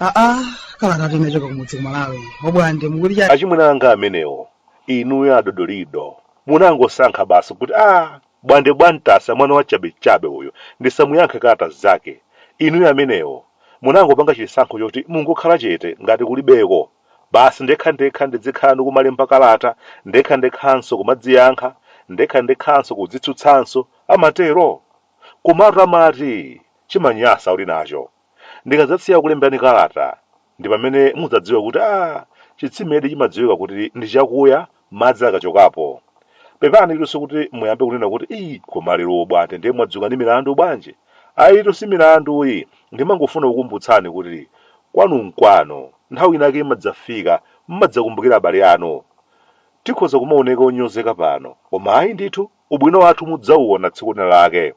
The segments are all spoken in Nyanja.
aa kalata tinachoka kumudzi ku Malawi Obwande mukuti chani achimwene anga amenewo inuyo adodolido munangosankha basi kuti a Bwande bwantasa mwana wa chabechabe uyo ndisamuyankhe kalata zake inuyo amenewo munangopanga chisankho choti mungokhala chete ngati kulibeko basi ndekhandekha ndidzikhala nikumalemba kalata ndekhandekhanso kumadziyankha ndekhandekhanso kudzitsutsanso amatero? komatu amati chimanyasa uli nacho ndikadzasiya kulemberani kalata Ndi pamene mudzadziwa kuti ah, chitsimedi chimadziwika kuti ndi chakuya madzi akachokapo. Pepani itu si kuti muyambe kunena kuti ii koma lero Obwande ndiye mwadzuka ndi milandu bwanji. Ayitu si milandu iyi, ndimangofuna kukumbutsani kuti kwanu nkwanu. Nthawi inake imadzafika mmadzakumbukira abale anu. Tikhoza kumaoneka onyozeka pano, koma ayi ndithu. Ubwino wathu mudzauona tsiku linalake.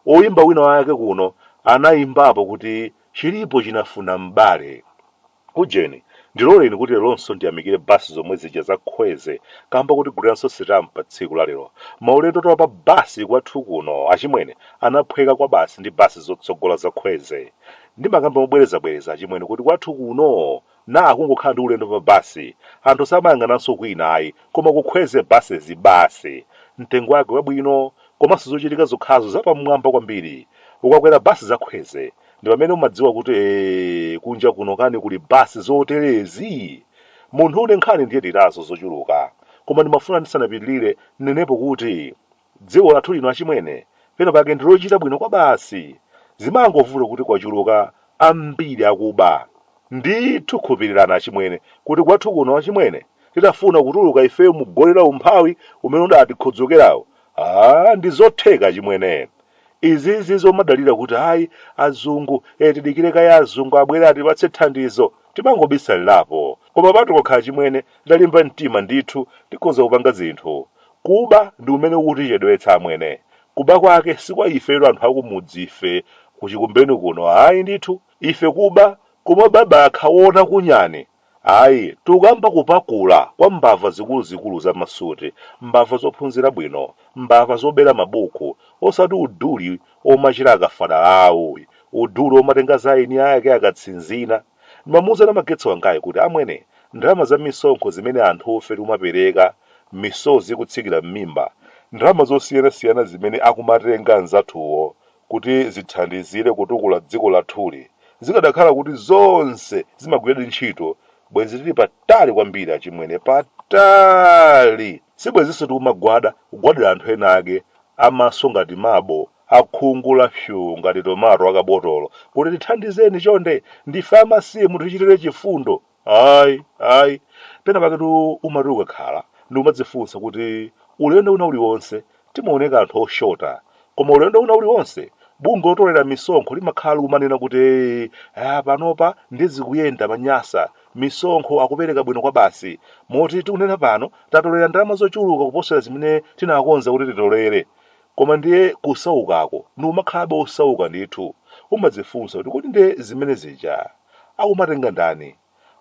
Oyimba wina wake kuno anayimbapo kuti chilipo chinafuna m'bale. Ujeni, ndiloleni kuti lelonso ndiyamikire bus zomwe zija za Khweze kamba kotigulirannso sitampa tsiku la lero. Maulendotu a pa bus kwathu kuno achimwene anaphweka kwabasi ndi bus zotsogola za Khweze. Ndimakamba mobwerezabwereza achimwene kuti kwathu kuno na akungokhala ndi ulendo pa bus anthu samayang'ananso kwina ayi koma kukhweze buses basi mtengo wake wabwino komanso zochitika zokhazo za pamwamba kwambiri ukakwera bus za khweze ndipamene umadziwa kuti ee kunja kuno kani kuli bus zoterezi munthu une nkhani ndiye ndinazo zochuluka koma ndimafuna ndisanapitilire ndinenepo kuti Dziko lathu lino achimwene, pena pake ndilochita bwino kwabasi. Zimangovuta kuti kwachuluka ambiri akuba. Ndithu khulupilirani achimwene kuti kwathu kuno achimwene titafuna kutuluka ifeyo mu goli la umphawi umene udatikhodzokerawu aah ndizotheka achimwene. Izizi zomadalira kuti ayi azungu ee tidikire kaye azungu abwere atipatse thandizo timangobisalirapo. Koma patokha achimwene titalimba mtima ndithu tikhoza kupanga zinthu. Kuba ndi kumene kukutichedwetsa amwene. Kuba kwake si kwa ifetu anthu akumudzife ku Chikumbeni kuno ayi ndithu. Ife kuba, kumaba abakha wona kunyani, ayi. Tikukamba kupakula kwa mbava zikuluzikulu za masuti, mbava zophunzira bwino, mbava zobera mabuku, osati uduli womachita akafanawu, uduli womatenga za eni ake akatsinzina. Ndimamuuza namagetsi wangayi kuti, Amwene, ndalama za misonkho zimene anthufe tikumapereka, misozi ikutsikira m'mimba, ndalama zosiyanasiyana zimene akumatenga anzathuwo kuti zithandizire kutukula dziko lathuli, zikadakhala kuti zonse zimagwiradi ntchito, bwenzi tili patali kwambiri achimwene, patali! Sibwenzinso tikumagwada kugwadira anthu enaake a maso ngati marble akhungu la fyuu ngati tomato akabotolo kuti tithandizeni chonde ndife amasiye mutichitire chifundo ayi ayi pena paketu umati ukakhala ndi kumadzifunsa kuti ulendo una uliwonse timaoneka anthu oshota koma ulendo una uliwonse bungwe lotolera misonkho limakhala likumanena kuti "Ah, panopa ndi zikuyenda manyasa misonkho akupereka bwino kwabasi moti tikunena pano tatolera ndalama zochuluka kuposera zimene tinakonza kuti titolere Koma ndiye kusaukako ndikumakhalabe osauka ndithu, umadzifunsa kuti kodi nde zimene zija akumatenga ndani?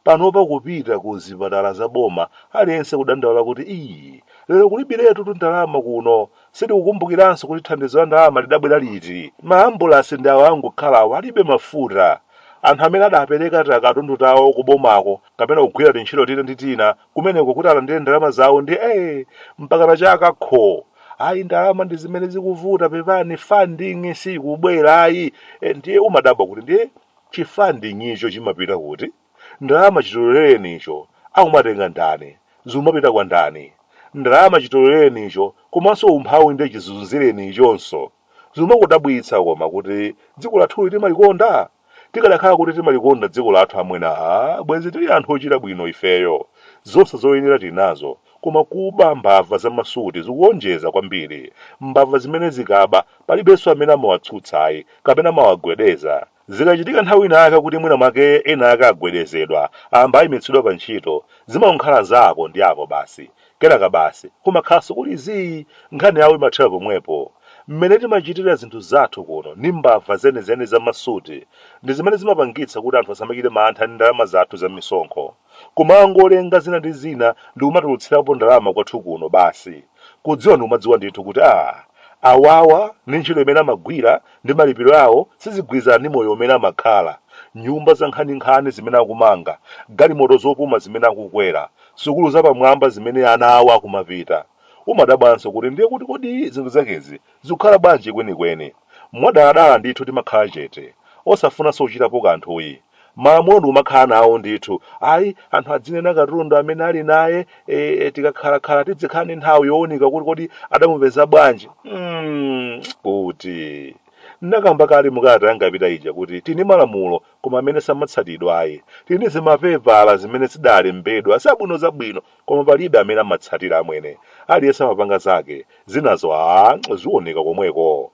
Panopa kupita ku zipatala za boma aliyense kudandaula kuti ii lero kulibiretutu ndalama kuno, sitikukumbukiranso kuti thandizo la ndalama lidabwera liti, maambulasi ndi awo angokhalawo alibe mafuta, anthu amene adapereka takatundu tawo kubomako kapena kugwira tintchito tina ndi tina kumeneko kuti alandire ndalama zawo ndi eh mpakana chaka kho ayi ndalama ndi zimene zikuvuta pepani funding sikubwera ayi, ndiye umadabwa kuti ndiye chifunding icho chimapita kuti ndalama chitolereni icho akumatenga ndani zimapita kwa ndani ndalama chitolereni icho komanso umphawi ndiye chizunzireni ichonso zimakudabwitsa koma kuti dziko lathuli timalikonda tikadakhala kuti timalikonda dziko lathu amwene aa bwenzi tili anthu ochita bwino ifeyo. zonse zoyenera tinazo koma kuba mbava za masuti zikuonjeza kwambiri. mbava zimene zikaba palibenso amene amawatsutsa ayi kapena amawagwedeza. zikachitika nthawi ina yake kuti mwina mwake ena ake agwedezedwa, amba aimitsidwa pa ntchito, zimangokhala za apo ndi apo basi. Kenaka basi, kumakhalanso kuli zii, nkhani yawo imathera pomwepo. Mmene timachitira zinthu zathu kuno ndi mbava zenizeni za masuti ndi zimene zimapangitsa kuti anthu asamachite mantha ndi ndalama zathu za misonkho. Kumangolenga zina ndi zina ndi kumatulutsirapo ndalama kwathu kuno basi kudziwa ndi kumadziwa ndithu kuti aah, awawa ndi ntchito imene amagwira ndi malipiro awo sizigwirizana ndi moyo umene amakhala, nyumba zankhaninkhani zimene akumanga, galimoto zopuma zimene akukwera. sukulu zapamwamba zimene ana awo akumapita. Umadabwanso kuti ndiye kuti kodi zinthu zakezi zikukhala bwanji kwenikweni? Mwadaladala ndithu timakhala chete, osafunanso kuchitapo kanthuyi. Malamulo ndikumakhala nawo ndithu, ayi, anthu adzinena katundu amene ali naye, e, tikakhalakhala tidzikhala ndi nthawi yowunika kuti kodi adamupeza bwanji, mm, kuti. Ndinakamba kale mu kalata yanga yapita ija kuti tili ndi malamulo koma amene samatsatidwa ayi tili ndi zimapepala zimene zidalembedwa zabwino zabwino koma palibe amene amatsatira amwene aliyense amapanga zake zinazo a zioneka komweko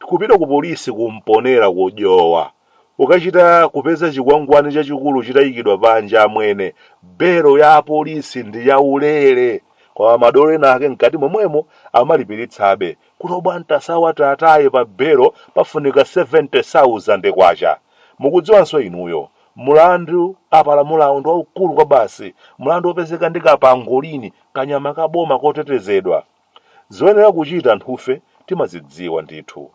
kupita ku polisi ku Mponela ku Dowa ukachita kupeza chikwangwani chachikulu chitayikidwa panja amwene belo ya polisi ndi yaulere koma madolo ena ake mkati momwemo amalipiritsabe Kuti Obwantasawa tiwataye pa belo pafunika K70,000. Mukudziwanso inuyo. Mulandu apalamulawu ndi waukulu kwabasi, mulandu wopezeka ndi ka pangolini, kanyama ka boma kotetezedwa. Zoyenera kuchita anthufe timazidziwa ndithu.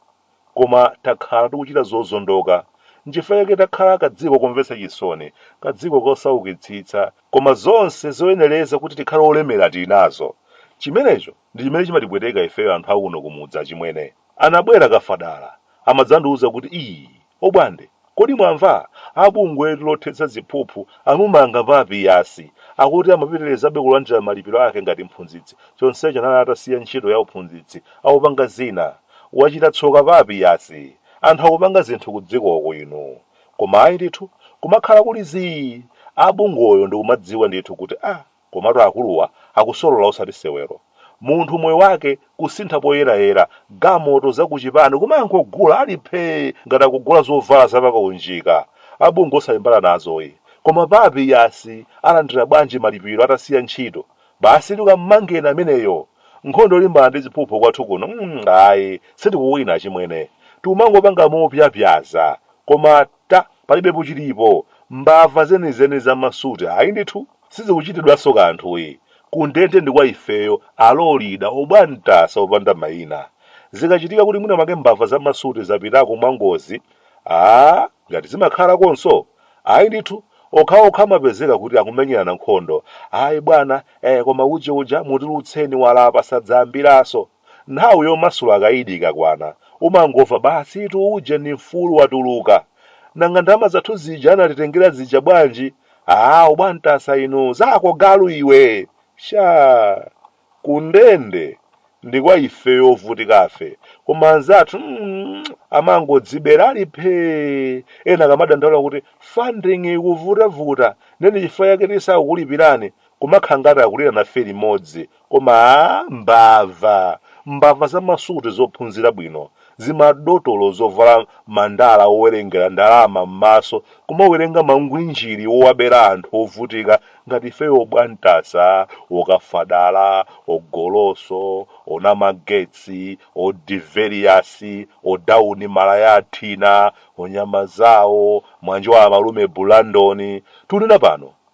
Koma takhala tikuchita zozondoka. N'chifukwa chake takhala kadziko komvetsa chisoni, kadziko kosaukitsitsa. Koma zonse zoyenereza kuti tikhale olemera tili nazo. Chimenecho Ndi chimene chimatipweteka ifeyo anthu akuno kumudzi achimwene. Anabwera Kafadala amadzandiuza kuti ii Obwande kodi mwamva? A bungwetu lothetsa ziphuphu amumanga Papiyasi. Akuti amapitirizabe kulandira malipiro ake ngati mphunzitsi chonsecho anali atasiya ntchito ya uphunzitsi akupanga zina. Wachita tsoka Papiyasi. Anthu akupanga zinthu kudzikoku inu koma ayi ndithu kumakhala kuli zii. A bungwoyo ndikumadziwa ndithu kuti aah. Komatu akuluwa akusolola osati sewero. Munthu moyo wake kusintha poyerayera, gamoto, zakuchipani kumangogula ali phee ngati akugula zovala za pakaunjika. A bungwe osalimbana nazoyi. Koma Papiyasi alandira bwanji malipiro atasiya ntchito? Basitu kammangeni ameneyo. Nkhondo yolimbana ndi ziphuphu kwathu kuno mm ayi sitikuwina achimwene. Tikumangopanga mopyapyaza. Koma ta palibepo chilipo. Mbava zenizeni za ma suit ayi ndithu. sizikuchitidwanso kanthuyi, kundende ndi kwa ifeyo alolida obwantasa opanda maina. Zikachitika kuti mwina mwake mbava za masuti zapitako mwangozi, aah ngati zimakhalakonso? Ayi ndithu, okhaokha amapezeka kuti akumenyerana nkhondo, ayi bwana, eh koma uje uja mutilutseni walapa sadzayambiranso. Nthawi yomasula akaidi ikakwana, umangomva basitu uje ndi mfulu watuluka. Nanga ndalama zathu zija anatitengera zija bwanji? Aaa obwantasa inu, zako galu iwe! Shaa! Kundende ndi kwa ifeyo ovutikafe, koma anzathu mm amangodzibera ali phee! Ena akamadandaula kuti funding ikuvutavuta nde ndi chifukwa chake tisakukulipirani, kumakhala ngati akulira nafe limodzi koma aah mbava mbava za masuti zophunzira bwino zimadotolo zovala mandala owerengera ndalama mmaso kumawerenga mangwinjiri owabera anthu ovutika ngati ifeyo obwantasa okafa dala ogoloso onamagetsi odiveliyasi odauni malaya athina onyema zawo mwanjowa amalume bulandoni tunena pano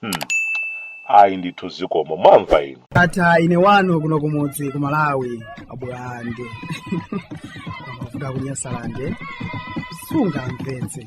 Hmm. Ayi ndithu zikomo mwamva inu. ndatha ine wanu kuno kumudzi ku malawi abulande kuda kunyasalande sungamvetse